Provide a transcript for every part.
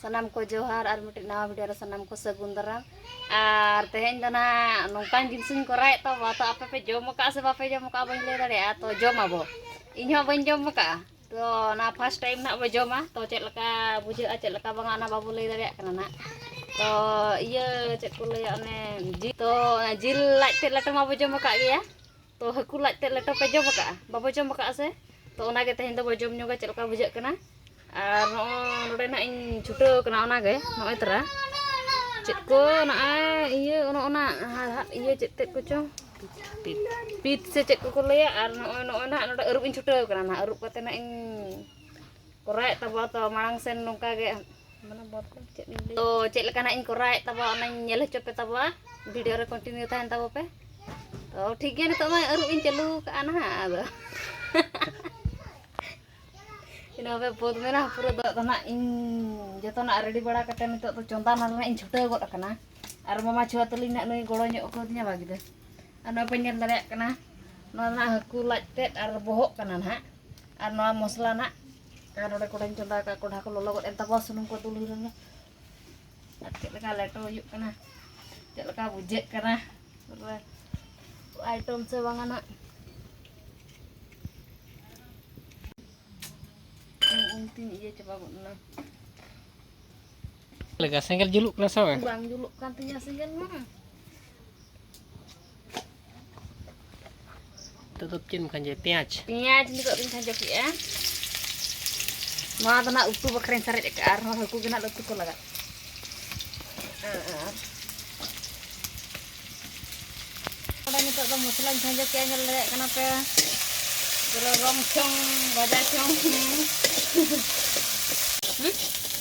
ᱥᱟᱱᱟᱢ ᱠᱚ ᱡᱚᱦᱟᱨ ᱟᱨ ᱢᱤᱫᱴᱮᱱ ᱱᱟᱣᱟ ᱵᱷᱤᱰᱤᱭᱳ ᱨᱮ ᱥᱟᱱᱟᱢ ᱠᱚ ᱥᱟᱹᱜᱩᱱ ᱫᱟᱨᱟᱢ ᱟᱨ ᱛᱮᱦᱮᱧ ᱫᱚ ᱱᱟᱦᱟᱜ ᱱᱚᱝᱠᱟᱱ ᱡᱤᱱᱤᱥᱤᱧ ᱠᱚᱨᱟᱣᱮᱫ ᱛᱟᱵᱚ ᱛᱚ ᱟᱯᱮ ᱯᱮ ᱡᱚᱢ ᱟᱠᱟᱫᱼᱟ ᱥᱮ ᱵᱟᱯᱮ ᱡᱚᱢ ᱟᱠᱟᱫᱼᱟ ᱵᱟᱹᱧ ᱞᱟᱹᱭ ᱫᱟᱲᱮᱭᱟᱜᱼᱟ ᱛᱚ ᱡᱚᱢ ᱟᱵᱚ ᱤᱧ ᱦᱚᱸ ᱵᱟᱹᱧ ᱡᱚᱢ ᱟᱠᱟᱫᱼᱟ ᱛᱚ ᱚᱱᱟ ᱯᱷᱟᱥᱴ ᱴᱟᱭᱤᱢ ᱱᱟᱦᱟᱜ ᱵᱚ ᱡᱚᱢᱟ ᱛᱚ ᱪᱮᱫ ᱞᱮᱠᱟ ᱵᱩᱡᱷᱟᱹᱜᱼᱟ ᱪᱮᱫ ᱞᱮᱠᱟ ᱵᱟᱝᱟ ᱚᱱᱟ ᱵᱟᱵᱚ ᱞᱟᱹᱭ ᱫᱟᱲᱮᱭᱟᱜ ᱠᱟᱱᱟ ᱱᱟᱦᱟᱜ ᱛᱚ ᱤᱭᱟᱹ ᱪᱮᱫ ᱠᱚ ᱞᱟᱹᱭᱟ ᱚᱱᱮ ᱡᱤᱞ ᱛᱚ ᱡᱤᱞ ᱞᱟᱡ ᱛᱮᱫ ᱞᱮᱴᱚ ᱢᱟᱵᱚ ᱡᱚᱢ ᱟᱠᱟᱫ ᱜᱮᱭᱟ ᱛᱚ ᱦᱟᱹᱠᱩ ᱞᱟᱡ ᱛᱮ ᱞᱮᱴᱚ ᱯᱮ ᱡᱚᱢ ᱟᱠᱟᱫᱼᱟ ᱵᱟᱵᱚ ᱡᱚᱢ ᱟᱠᱟᱫᱼᱟ ᱥᱮ ᱛᱚ ᱚᱱᱟᱜᱮ ᱛᱮᱦᱮᱧ ᱫᱚᱵᱚ ᱡᱚᱢ ᱧᱚᱜᱟ ᱪᱮᱫ ᱞᱮᱠᱟ ᱵᱩᱡᱷᱟᱹᱜ ᱠᱟᱱᱟ ᱟᱨ ᱱᱚᱜᱼᱚᱭ ᱱᱚᱰᱮ ᱱᱟᱜ ᱤᱧ ᱪᱷᱩᱴᱟᱹᱣ ᱠᱟᱱᱟ ᱚᱱᱟᱜᱮ ᱱᱚᱜᱼᱚᱭ ᱛᱚᱨᱟ ᱪᱮᱫ ᱠᱚ ᱱᱚᱜᱼᱚᱭ ᱤᱭᱟᱹ ᱚᱱᱟ ᱚᱱᱟ ᱦᱟᱲᱦᱟᱫ ᱤᱭᱟᱹ ᱪᱮᱫ ᱛᱮᱫ ᱠᱚᱪᱚᱝ ᱯᱤᱛ ᱥᱮ ᱪᱮᱫ ᱠᱚᱠᱚ ᱞᱟᱹᱭᱟ ᱟᱨ ᱱᱚᱜᱼᱚᱭ ᱱᱚᱜᱼᱚᱭ ᱱᱟᱜ ᱱᱚᱰᱮ ᱟᱹᱨᱩᱵ ᱤᱧ ᱪᱷᱩᱴᱟᱹᱣ ᱠᱟᱱᱟ ᱱᱟᱜ ᱟᱹᱨᱩᱵ ᱠᱟᱛᱮᱫ ᱱᱟᱜ ᱤᱧ ᱠᱚᱨᱟᱣᱮᱫ ᱛᱟᱵᱚ ᱛᱚ ᱢᱟᱲᱟᱝ ᱥᱮᱱ ᱱᱚᱝᱠᱟ ᱜᱮ ᱢᱟᱱᱮ ᱵᱚᱫ ᱠᱚ ᱪᱮᱫ ᱞᱤᱧ ᱞᱟᱹᱭ ᱛᱚ ᱪᱮᱫ ᱞᱮᱠᱟ ᱱᱟᱜ ᱤᱧ ᱠᱚᱨᱟᱣᱮᱫ ᱛᱟᱵᱚ ᱚᱱᱟᱧ ᱧᱮᱞ ᱦᱚᱪᱚ ᱯᱮ ᱛᱟᱵᱚ ᱵᱷᱤᱰᱤᱭᱳ ᱨᱮ ᱠᱚᱱᱴᱤᱱᱤᱭᱩ ᱛᱟᱦᱮᱱ ᱛᱟᱵᱚ ᱯᱮ ᱛᱚ ᱴᱷᱤᱠ ᱜᱮᱭᱟ ᱱᱤᱛᱚᱜ ᱢᱟ ᱟᱹᱨᱩᱵ ᱤᱧ ᱪᱟᱹᱞᱩ ᱠᱟᱜᱼᱟ ᱱᱟᱦᱟᱜ ᱟᱫᱚ ᱤᱱᱟᱹ ᱯᱮ ᱵᱚᱫ ᱢᱮᱱᱟ ᱯᱩᱨᱟᱹ ᱫᱚ ᱟᱫᱚ ᱱᱟᱜ ᱤᱧ ᱡᱚᱛᱚᱱᱟᱜ ᱨᱮᱰᱤ ᱵᱟᱲᱟ ᱠᱟᱛᱮ ᱱᱤᱛᱚᱜ ᱫᱚ ᱪᱚᱸᱫᱟ ᱱᱟᱞ ᱱᱟᱜ ᱤᱧ ᱪᱷᱩᱴᱟᱹᱣ ᱜᱚᱫ ᱟᱠᱟᱱᱟ ᱟᱨ ᱢᱟᱢᱟ ᱪᱷᱩᱣᱟ ᱛᱟᱹᱞᱤᱧ ᱱᱟᱜ ᱱᱩᱭ ᱜᱚᱲᱚ ᱧᱚᱜ ᱠᱟᱹᱫᱤᱧᱟ ᱵᱟᱜᱤᱫᱟᱹ ᱟᱨ ᱱᱚᱣᱟ ᱯᱮ ᱧᱮᱞ ᱫᱟᱲᱮᱭᱟᱜ ᱠᱟᱱᱟ ᱱᱚᱣᱟ ᱱᱟᱜ ᱦᱟᱹᱠᱩ ᱞᱟᱡ ᱛᱮᱫ ᱟᱨ ᱵᱚᱦᱚᱜ ᱠᱟᱱᱟ ᱱᱟᱜ ᱟᱨ ᱱᱚᱣᱟ ᱢᱚᱥᱞᱟ ᱱᱟᱜ ᱟᱨ ᱱᱚᱰᱮ ᱠᱚᱲᱟᱧ ᱪᱚᱸᱫᱟ ᱟᱠᱟᱫ ᱠᱚᱰᱷᱟ ᱠᱚ ᱞᱚᱞᱚ ᱜᱚᱫ ᱮᱱ ᱛᱟᱠᱚᱣᱟ ᱥᱩᱱᱩᱢ ᱠᱚ ᱫᱩᱞ ᱦᱩᱭ ᱞᱮᱱ ᱜᱮ ᱟᱨ ᱪᱮᱫ ᱞᱮᱠᱟ ᱞᱮᱴᱚ ᱦᱩᱭᱩᱜ ᱠᱟᱱᱟ ᱪᱮᱫ ᱞᱮᱠᱟ ᱵᱩᱡᱷᱟᱹᱜ ᱠᱟᱱᱟ ᱯᱩᱨᱟᱹ ᱟᱭᱴᱚᱢ ᱥᱮ ᱵᱟᱝᱟ ᱱᱟᱜ ᱩᱱᱛᱤᱧ ᱤᱭᱟᱹ ᱪᱟᱵᱟ ᱜᱚᱫ ᱮᱱᱟ ᱞᱮᱠᱟ ᱥᱮᱸᱜᱮᱞ ᱡᱩᱞᱩᱜ ᱠᱟᱱᱟ ᱥᱮ ᱵᱟᱝ ᱵᱟᱝ ᱡᱩᱞᱩᱜ ᱠᱟᱱ ᱛᱤᱧᱟᱹ ᱥᱮᱸᱜᱮᱞ ᱢᱟ ᱱᱤᱛᱚᱜ ᱫᱚ ᱪᱮᱫ ᱮᱢ ᱠᱷᱟᱸᱡᱚᱭᱟ ᱯᱮᱸᱭᱟᱡᱽ ᱯᱮᱸᱭᱟᱡᱽ ᱱᱤᱛᱚᱜ ᱫᱚᱧ ᱠᱷᱟᱸᱡᱚ ᱠᱮᱫᱼᱟ ᱱᱚᱣᱟ ᱫᱚ ᱱᱟᱜ ᱩᱛᱩ ᱵᱟᱠᱷᱨᱟᱧ ᱥᱟᱨᱮᱡ ᱟᱠᱟᱫᱼᱟ ᱟᱨᱦᱚᱸ ᱦᱟᱹᱠᱩ ᱜᱮ ᱱᱟᱜ ᱩᱛᱩ ᱠᱚ ᱞᱟᱜᱟᱜ ᱚᱸᱰᱮ ᱱᱤᱛᱚᱜ ᱫᱚ ᱢᱚᱥᱞᱟᱧ ᱠᱷᱟᱸᱡᱚ ᱠᱮᱫᱼᱟ ᱧᱮᱞ ᱫᱟᱲᱮᱭᱟᱜ ᱠᱟᱱᱟ ᱯᱮ ᱯᱩᱨᱟᱹ ᱨᱚᱝ ᱪᱷᱚᱝ ᱵᱟᱡᱟ ᱪᱷᱚᱝ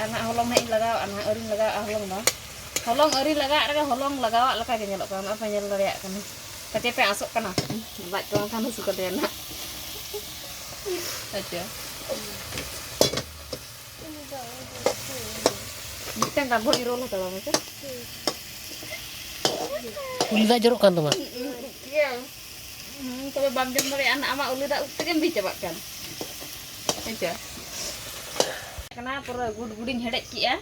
ᱟᱨ ᱱᱟᱦᱟᱜ ᱦᱚᱞᱚᱝ ᱱᱟᱦᱟᱜ ᱤᱧ ᱞᱟᱜᱟᱣᱟᱜᱼᱟ ᱱᱟᱦᱟᱜ ᱟᱹᱣᱨᱤᱧ ᱞᱟᱜᱟᱣᱟᱜᱼᱟ ᱦᱚᱞᱚᱝ ᱫᱚ ᱦᱚᱞᱚᱝ ᱟᱹᱣᱨᱤ ᱞᱟᱜᱟᱣᱟᱜ ᱨᱮᱜᱮ ᱦᱚᱞᱚᱝ ᱞᱟᱜᱟᱣᱟᱜ ᱞᱮᱠᱟ ᱜᱮ ᱧᱮᱞᱚᱜ ᱠᱟᱱᱟ ᱱᱚᱜᱼᱚᱭ ᱯᱮ ᱧᱮᱞ ᱫᱟᱲᱮᱭᱟᱜ ᱠᱟᱱᱟ ᱯᱟᱪᱮ ᱯᱮ ᱟᱥᱚᱜ ᱠᱟᱱᱟ ᱞᱟᱡ ᱠᱚ ᱵᱟᱝᱠᱷᱟᱱ ᱦᱟᱹᱥᱩ ᱠᱟᱫᱮᱭᱟ ᱱᱟᱦᱟᱜ ᱟᱪᱪᱷᱟ ᱢᱤᱫᱴᱟᱝ ᱜᱟᱱ ᱵᱷᱚᱲ ᱨᱳᱞ ᱦᱟᱛᱟᱲᱟ ᱢᱮᱥᱮ ᱩᱞᱤ ᱫᱟᱜ ᱡᱚᱨᱚᱜ ᱠᱟᱱ ᱛᱟᱢᱟ ᱛᱚᱵᱮ ᱵᱟᱢ ᱡᱚᱢ ᱫᱟᱲᱮᱭᱟᱜᱼᱟ ᱱᱟᱜ ᱟᱢᱟᱜ ᱩᱞᱤ ᱫᱟᱜ ᱩᱵ ᱛᱮᱜᱮᱢ ᱵᱤ ᱪᱟᱵᱟᱜ ᱠᱟᱱ ᱦᱮᱸᱪᱮ ᱠᱟᱱᱟ ᱯᱩᱨᱟᱹ ᱜᱩᱰ ᱜᱩᱰᱤᱧ ᱦᱮᱰᱮᱡ ᱠᱮᱜᱼᱟ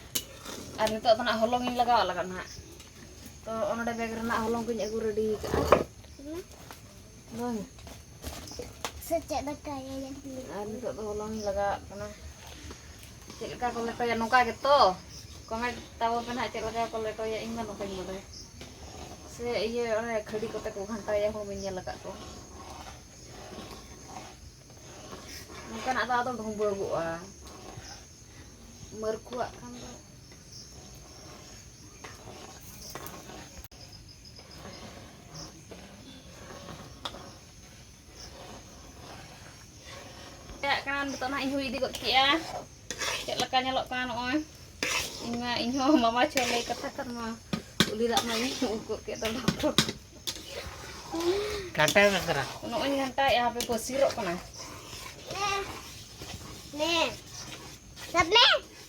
ᱟᱨ ᱱᱤᱛᱚᱜ ᱫᱚ ᱱᱟᱜ ᱦᱚᱞᱚᱝ ᱤᱧ ᱞᱟᱜᱟᱣᱟᱜ ᱞᱟᱜᱟᱜ ᱱᱟᱜ ᱛᱚ ᱚᱱᱚᱰᱮ ᱵᱮᱜᱽ ᱨᱮᱱᱟᱜ ᱦᱚᱞᱚᱝ ᱠᱚᱧ ᱟᱹᱜᱩ ᱨᱮᱰᱤ ᱠᱟᱜᱼᱟ ᱵᱟᱝ ᱥᱮ ᱪᱮᱫ ᱫᱟᱠᱟᱭᱟ ᱟᱨ ᱱᱤᱛᱚᱜ ᱫᱚ ᱦᱚᱞᱚᱝ ᱤᱧ ᱞᱟᱜᱟᱣᱟᱜ ᱠᱟᱱᱟ ᱪᱮᱫ ᱞᱮᱠᱟ ᱠᱚ ᱞᱮᱴᱚᱭᱟ ᱱᱚᱝᱠᱟ ᱜᱮᱛᱚ ᱠᱚᱢᱮᱱᱴ ᱛᱟᱵᱚᱱ ᱯᱮ ᱱᱟᱦᱟᱜ ᱪᱮᱫ ᱞᱮᱠᱟ ᱠᱚ ᱞᱮᱴᱚᱭᱟ ᱤᱧ ᱢᱟ ᱱᱚᱝᱠᱟᱧ ᱵᱟᱰᱟᱭᱟ ᱥᱮ ᱤᱭᱟᱹ ᱚᱱᱮ ᱠᱷᱟᱹᱰᱤ ᱠᱚᱛᱮ ᱠᱚ ᱜᱷᱟᱱᱴᱟᱭᱟ ᱦᱚᱲ ᱵᱟᱹᱧ ᱧᱮᱞ ᱟᱠᱟᱫ ᱠᱚᱣᱟ ᱱᱚᱝᱠᱟᱱᱟᱜ ᱫᱚ ᱟᱫᱚ ᱰᱷᱩᱸᱵᱟᱹᱜᱚᱜᱼᱟ ᱢᱟᱹᱨᱠᱩᱣᱟᱜ ᱠᱷᱟᱱ ᱫᱚ ᱪᱟᱞᱟᱜ ᱠᱟᱱᱟ ᱱᱤᱛᱚᱜ ᱱᱟᱦᱟᱜ ᱤᱧ ᱦᱩᱭ ᱤᱫᱤ ᱜᱚᱫ ᱠᱮᱜᱼᱟ ᱪᱮᱫ ᱞᱮᱠᱟ ᱧᱮᱞᱚᱜ ᱠᱟᱱᱟ ᱱᱚᱜᱼᱚᱭ ᱤᱧ ᱢᱟ ᱤᱧ ᱦᱚᱸ ᱢᱟᱢᱟ ᱪᱷᱚ ᱞᱟᱹᱭ ᱠᱟᱛᱷᱟ ᱠᱟᱱ ᱢᱟ ᱩᱞᱤ ᱫᱟᱜ ᱢᱟ ᱤᱧ ᱩᱵ ᱜᱚᱫ ᱠᱮᱫ ᱫᱚ ᱰᱚᱠᱴᱚᱨ ᱜᱷᱟᱱᱴᱟᱭ ᱢᱮ ᱫᱷᱟᱨᱟ ᱱᱚᱜᱼᱚᱭ ᱜᱷᱟᱱᱴᱟᱭᱮᱜᱼᱟ ᱦᱟᱯᱮ ᱯᱟᱹᱥᱤᱨᱚᱜ ᱠᱟᱱᱟ ᱱᱮ ᱥᱟᱵ ᱢᱮ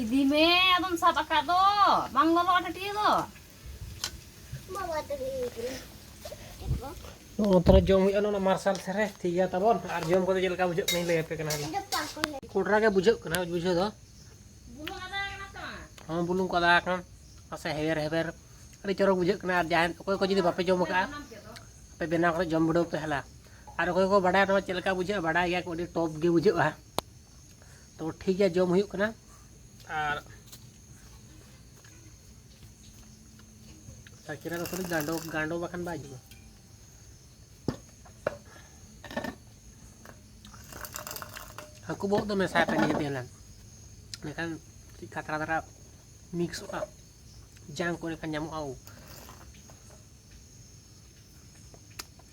ᱤᱫᱤ ᱢᱮ ᱟᱫᱚᱢ ᱥᱟᱵ ᱟᱠᱟᱫ ᱫᱚ ᱵᱟᱝ ᱞᱚᱞᱚᱜᱼᱟ ᱴᱟᱹᱴᱤᱭᱟᱹ ᱫᱚ ᱵᱟᱵᱟ ᱴᱟᱹᱴᱤᱭᱟᱹ ᱱᱚᱜᱼᱚ ᱛᱟᱦᱚᱞᱮ ᱡᱚᱢ ᱦᱩᱭᱩᱜᱼᱟ ᱱᱚᱣᱟ ᱢᱟᱨᱥᱟᱞ ᱥᱮᱨᱮ ᱴᱷᱤᱠ ᱜᱮᱭᱟ ᱛᱟᱵᱚᱱ ᱟᱨ ᱡᱚᱢ ᱠᱚᱫᱚ ᱪᱮᱫ ᱞᱮᱠᱟ ᱵᱩᱡᱷᱟᱹᱜ ᱠᱟᱱᱟᱧ ᱞᱟᱹᱭ ᱟᱯᱮ ᱠᱟᱱᱟ ᱠᱚᱰᱨᱟ ᱜᱮ ᱵᱩᱡᱷᱟᱹᱜ ᱠᱟᱱᱟ ᱵᱩᱡᱷᱟᱹᱣ ᱫᱚ ᱦᱚᱸ ᱵᱩᱞᱩᱝ ᱠᱚ ᱟᱫᱟ ᱟᱠᱟᱱᱟ ᱯᱟᱥᱮ ᱦᱮᱵᱮᱨ ᱦᱮᱵᱮᱨ ᱟᱹᱰᱤ ᱪᱚᱨᱚᱠ ᱵᱩᱡᱷᱟᱹᱜ ᱠᱟᱱᱟ ᱟᱨ ᱡᱟᱦᱟᱸᱭ ᱚᱠᱚᱭ ᱠᱚ ᱡᱩᱫᱤ ᱵᱟᱯᱮ ᱡᱚᱢ ᱟᱠᱟᱫᱼᱟ ᱟᱯᱮ ᱵᱮᱱᱟᱣ ᱠᱟᱛᱮ ᱡᱚᱢ ᱵᱤᱰᱟᱹᱣ ᱯᱮ ᱦᱮᱞᱟ ᱟᱨ ᱚᱠᱚᱭ ᱠᱚ ᱵᱟᱰᱟᱭᱟ ᱱᱚᱣᱟ ᱪᱮᱫ ᱞᱮᱠᱟ ᱵᱩᱡᱷᱟᱹᱜᱼᱟ ᱵᱟᱰᱟᱭ ᱜᱮᱭᱟ ᱠᱚ ᱟᱹᱰᱤ ᱴᱚᱯ ᱜᱮ ᱵᱩᱡᱷᱟᱹᱜᱼᱟ ᱛᱚ ᱴᱷᱤᱠ ᱜᱮᱭᱟ ᱡᱚᱢ ᱦᱩᱭᱩᱜ ᱠᱟᱱᱟ ᱟᱨ ᱥᱟᱠᱤᱨᱟ ᱫᱚ ᱠᱷᱟᱹᱞᱤ ᱜᱟᱸᱰᱚ ᱜᱟᱸᱰᱚ ᱵᱟᱠᱷᱟᱱ ᱵᱟᱭ ᱡᱚᱢᱟ ᱦᱟᱹᱠᱩ ᱵᱚᱦᱚᱜ ᱫᱚ ᱢᱮᱥᱟᱭ ᱯᱮ ᱱᱤᱭᱟᱹ ᱛᱮᱞᱟᱱ ᱮᱱᱠᱷᱟᱱ ᱠᱟᱹᱴᱤᱡ ᱠᱷᱟᱛᱨᱟ ᱫᱷᱟᱨᱟ ᱢᱤᱠᱥᱚᱜᱼᱟ ᱡᱟᱝ ᱠᱚ ᱮᱱᱠᱷᱟᱱ ᱧᱟᱢᱚᱜᱼᱟ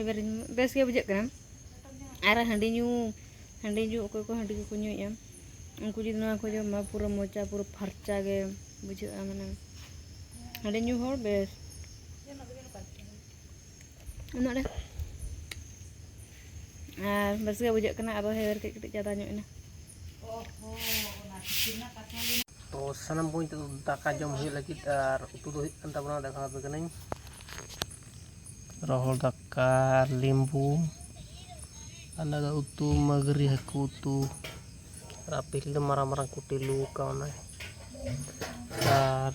ᱮᱵᱟᱨ ᱵᱮᱥ ᱜᱮ ᱵᱩᱡᱷᱟᱹᱜ ᱠᱟᱱᱟ ᱟᱨ ᱦᱟᱺᱰᱤ ᱧᱩ ᱦᱟᱺᱰᱤ ᱧᱩ ᱚᱠᱚᱭ ᱠᱚ ᱦᱟᱺᱰᱤ ᱠᱚᱠᱚ ᱧᱩᱭᱮᱫᱼᱟ ᱩᱱᱠᱩ ᱡᱩᱫᱤ ᱱᱚᱣᱟ ᱠᱚ ᱡᱚᱢᱟ ᱯᱩᱨᱟᱹ ᱢᱚᱪᱟ ᱯᱩᱨᱟᱹ ᱯᱷᱟᱨᱪᱟ ᱜᱮ ᱵᱩᱡᱷᱟᱹᱜᱼᱟ ᱢᱟᱱᱮ ᱦᱟᱺᱰᱤ ᱧᱩ ᱦᱚᱲ ᱵᱮᱥ ᱩᱱᱟᱹᱜ ᱨᱮ ᱟᱨ ᱵᱮᱥ ᱜᱮ ᱵᱩᱡᱷᱟᱹᱜ ᱠᱟᱱᱟ ᱟᱫᱚ ᱦᱮᱣᱮᱨ ᱠᱟᱹᱡ ᱠᱟᱹᱴᱤᱡ ᱡᱟᱫᱟ ᱧᱚᱜ ᱮᱱᱟ ᱛᱚ ᱥᱟᱱᱟᱢ ᱠᱚ ᱱᱤᱛᱚᱜ ᱫᱟᱠᱟ ᱡᱚᱢ ᱦᱩᱭᱩᱜ ᱞᱟᱹᱜᱤᱫ ᱟᱨ ᱩᱛᱩ ᱫᱚ ᱦᱩᱭᱩᱜ ᱠᱟᱱ ᱛᱟᱵᱚᱱᱟ ᱫᱟᱠᱟ ᱟᱯᱮ ᱠᱟᱹᱱᱟᱹᱧ ᱨᱚᱦᱚᱲ ᱫᱟᱠᱟ ᱟᱨ ᱞᱤᱢᱵᱩ ᱟᱨ ᱱᱚᱣᱟ ᱫᱚ ᱩᱛᱩ ᱢᱟᱹᱜᱽᱨᱤ ᱦᱟᱹᱠᱩ ᱩᱛᱩ ᱟᱨ ᱟᱯᱮᱞ ᱫᱚ ᱢᱟᱨᱟᱝ ᱢᱟᱨᱟᱝ ᱠᱩᱴᱤ ᱞᱩ ᱠᱟᱣᱱᱟᱭ ᱟᱨ